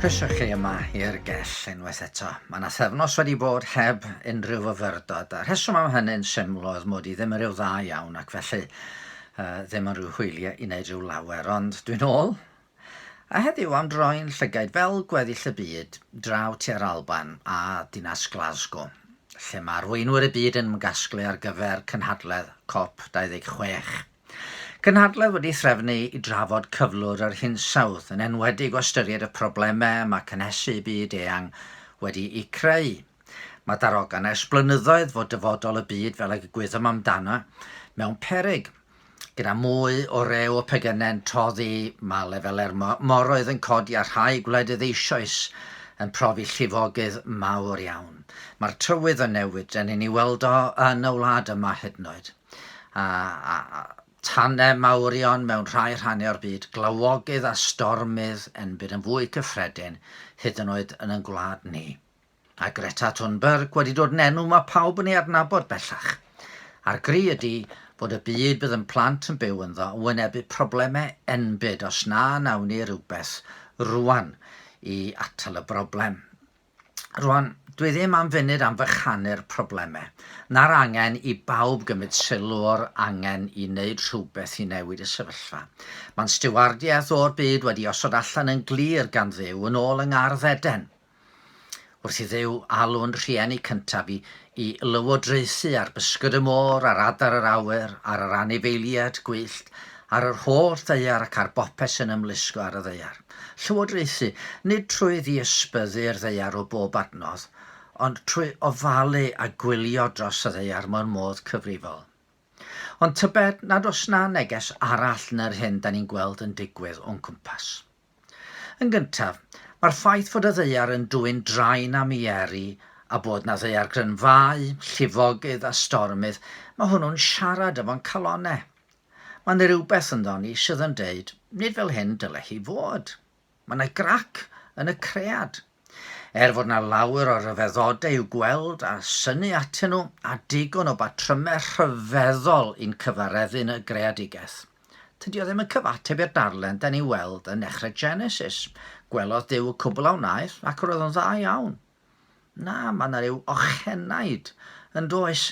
Croeso chi yma i'r gell unwaith eto. Mae yna thefnos wedi bod heb unrhyw fyfyrdod, a rheswm am hynny'n syml oedd mod i ddim yn rhyw dda iawn ac felly uh, ddim yn rhyw hwyliau i wneud rhyw lawer, ond dwi'n ôl, A heddiw am droi'n llygaid fel gweddill y byd draw tua'r Alban a dinas Glasgow, lle mae arweinwyr y byd yn ymgasglu ar gyfer cynhadledd Cop 26. Cynhadledd wedi threfnu i drafod cyflwr yr hinsawdd, yn enwedig o ystyried y problemau mae cynhesu y byd eang wedi'u creu. Mae darogan ers blynyddoedd fod dyfodol y byd fel y gwyddom amdano mewn peryg. Gyda mwy o rew o pegynau'n toddi, mae lefelau'r moroedd yn codi a rhai gwledydd eisoes yn profi llifogydd mawr iawn. Mae'r tywydd yn newid, dan ni'n ei weld o yn y wlad yma hyd yn oed. A, a, a tanau mawrion mewn rhai rhannau o'r byd, glawogydd a stormydd yn byd yn fwy cyffredin, hyd yn oed yn yn gwlad ni. A Greta Thunberg wedi dod yn enw mae pawb yn ei adnabod bellach. A'r gri ydi fod y byd bydd yn plant yn byw ynddo yn wynebu problemau enbyd os na nawn ni rhywbeth rwan i atal y broblem. Rwan, dwi ddim am funud am fychanu'r problemau, na'r angen i bawb gymryd sylw o'r angen i wneud rhywbeth i newid y sefyllfa. Mae'n stiwardiaeth o'r byd wedi osod allan yn glir gan Dduw yn ôl yng Ngardd Eden. Wrth i Dduw alw'n rhieni cyntaf i i lywodraethu ar bysgod y môr, ar adar yr awyr, ar yr anifeiliad gwyllt, ar yr holl ddaear ac ar bopeth sy'n ymlusgo ar y ddaear. Llywodraethu, nid trwy ddiysbyddu'r ddaear o bob adnodd, ond trwy ofalu a gwylio dros y ddaear mewn modd cyfrifol. Ond tybed nad oes 'na neges arall na'r hyn 'dan ni'n gweld yn digwydd o'n cwmpas? Yn gyntaf, mae'r ffaith fod y ddaear yn dwyn drain am i Eryri a bod 'na ddaeargryn fau, llifogydd a stormydd, mae hwnnw'n siarad efo'n calonnau. Mae 'na rywbeth ynddo ni sydd yn deud, 'nid fel hyn dyle hi fod'. Mae 'na grac yn y cread. Er fod 'na lawer o ryfeddodau i'w gweld a synnu atyn nhw, a digon o batrymau rhyfeddol i'n cyfareddu yn y greadigaeth, tydi o ddim yn cyfateb i'r darllen 'dan ni'n weld yn nechrau Genesis, gwelodd Duw y cwbl a wnaeth ac roedd o'n dda iawn. Na, mae 'na ryw ochenaid yn does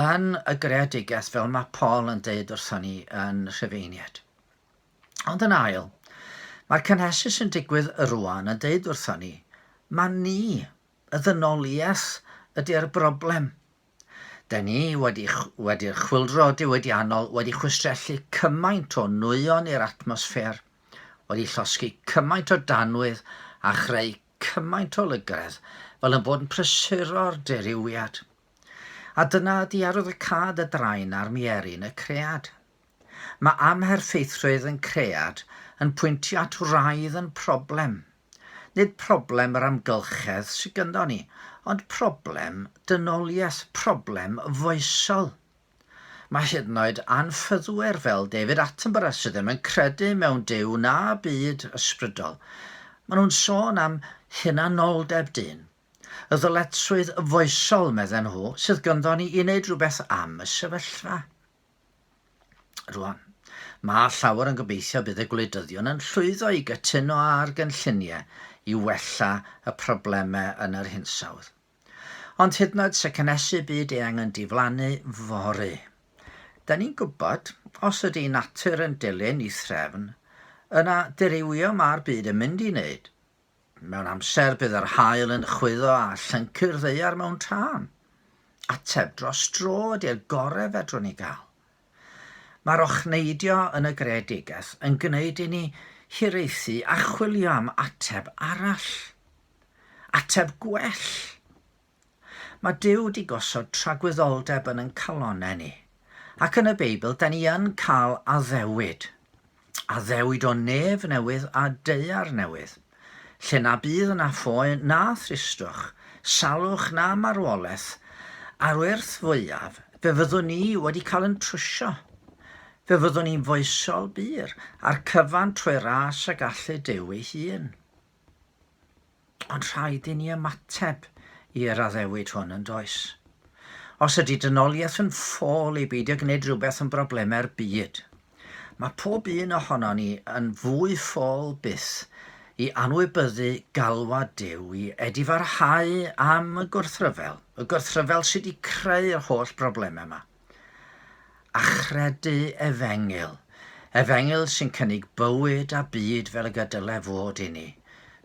yn y greadigaeth fel mae Paul yn deud wrthon ni yn Rhufeiniaid. Ond yn ail, mae'r cynhesu sy'n digwydd rwan yn deud wrthon ni, ma ni, y ddynoliaeth, ydy'r broblem. Da ni wedi, wedi'r chwildro diwydiannol wedi chwistrellu cymaint o nwyon i'r atmosffer, wedi llosgi cymaint o danwydd a chreu cymaint o lygredd fel yn bod yn prysuro'r dirywiad. A dyna ydy arwyddocâd y drain a'r mierin, y cread. Mae amherffeithrwydd yn cread yn pwyntio at wraidd yn problem. Nid problem yr amgylchedd sydd gynddon ni, ond problem dynoliaeth, problem foesol. Mae hyd yn oed anffyddwyr fel David Attenborough sydd ddim yn credu mewn Duw na byd ysbrydol, maen nhw'n sôn am hunanoldeb dyn. Y ddyletswydd foesol, medden nhw, sydd gynddon ni i wneud rhywbeth am y sefyllfa. Rwan, mae llawer yn gobeithio bydd y gwleidyddion yn llwyddo i gytuno ar gynlluniau i wella y problemau yn yr hinsawdd. Ond hyd yn oed se cynhesu byd eang yn diflannu fory. Da ni'n gwybod, os ydy natur yn dilyn i threfn, yna dirywio mae'r byd yn mynd i wneud. Mewn amser bydd yr haul yn chwyddo a llyncu'r ddaear mewn tân. Ateb dros dro ydy'r gorau fedrwn ni gael. Mae'r ochneidio yn y greadigaeth yn gwneud i ni hiraethu a chwilio am ateb arall. Ateb gwell. Mae Duw 'di gosod tragwyddoldeb yn yn calonne ni. Ac yn y Beibl, da ni yn cael addewid. Addewid o nef newydd a daear newydd. Lle na bydd yna ffoe na thristwch, salwch na marwoleth, a'r wyrth fwyaf, fe fyddwn ni wedi cael yn trwsio. Fe fyddwn ni'n foesol bur, a'r cyfan trwy ras y gallu Duw ei hun. Ond rhaid i ni ymateb i'r addewid hwn, yn does? Os ydy dynoliaeth yn ffôl i beidio gwneud rhywbeth yn broblemau'r byd, mae pob un ohonon ni yn fwy ffôl byth i anwybyddu galwad Duw i edifarhau am y gwrthryfel, y gwrthryfel sydd wedi creu'r holl broblemau yma. Achredu efengyl. Efengyl sy'n cynnig bywyd a byd fel y gydyle fod i ni.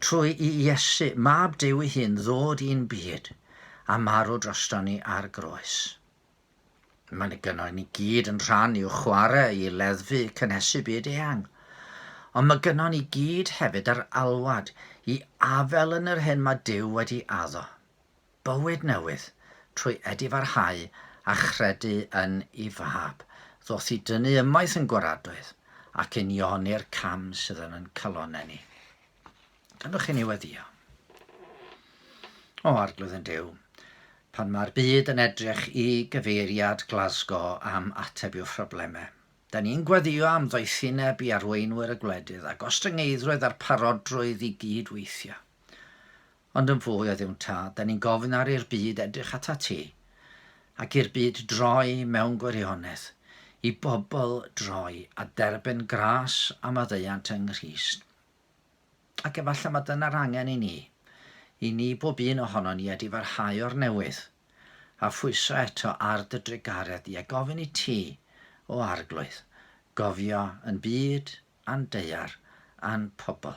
Trwy i Iesu, Mab Duw ei hun, ddod i'n byd, a marw drosto ni ar groes. Mae ni gynno ni gyd yn rhan i'w chwarae i leddfu cynhesu byd eang. Ond mae gynno ni gyd hefyd yr alwad i afel yn yr hyn mae Duw wedi addo. Bywyd newydd, trwy edifarhau a chredu yn i Fab, ddoth i dynnu ymaith yn gwaradwydd, ac unioni'r cam sydd yn yn calonau ni. Gallwch chi ni weddio? O, Arglwydd yn Duw, pan mae'r byd yn edrych i gyfeiriad Glasgow am ateb i'w phroblemau, da ni'n gweddio am ddoethineb i arweinwyr y gwledydd a gostyngeiddrwydd a'r parodrwydd i gyd-weithio. Ond yn fwy o Dduw'n Tad, da ni'n gofyn ar i'r byd edrych ata ti, ac i'r byd droi mewn gwirionedd, i bobl droi a derbyn gras a maddeuant yng Nghrist. Ac efallai mae dyna'r angen i ni, i ni bob un ohonon ni ydy farhau o'r newydd, a phwyso eto ar dy drugaredd di, a gofyn i ti, o Arglwydd, gofio yn byd, a'n deuar, a'n pobl.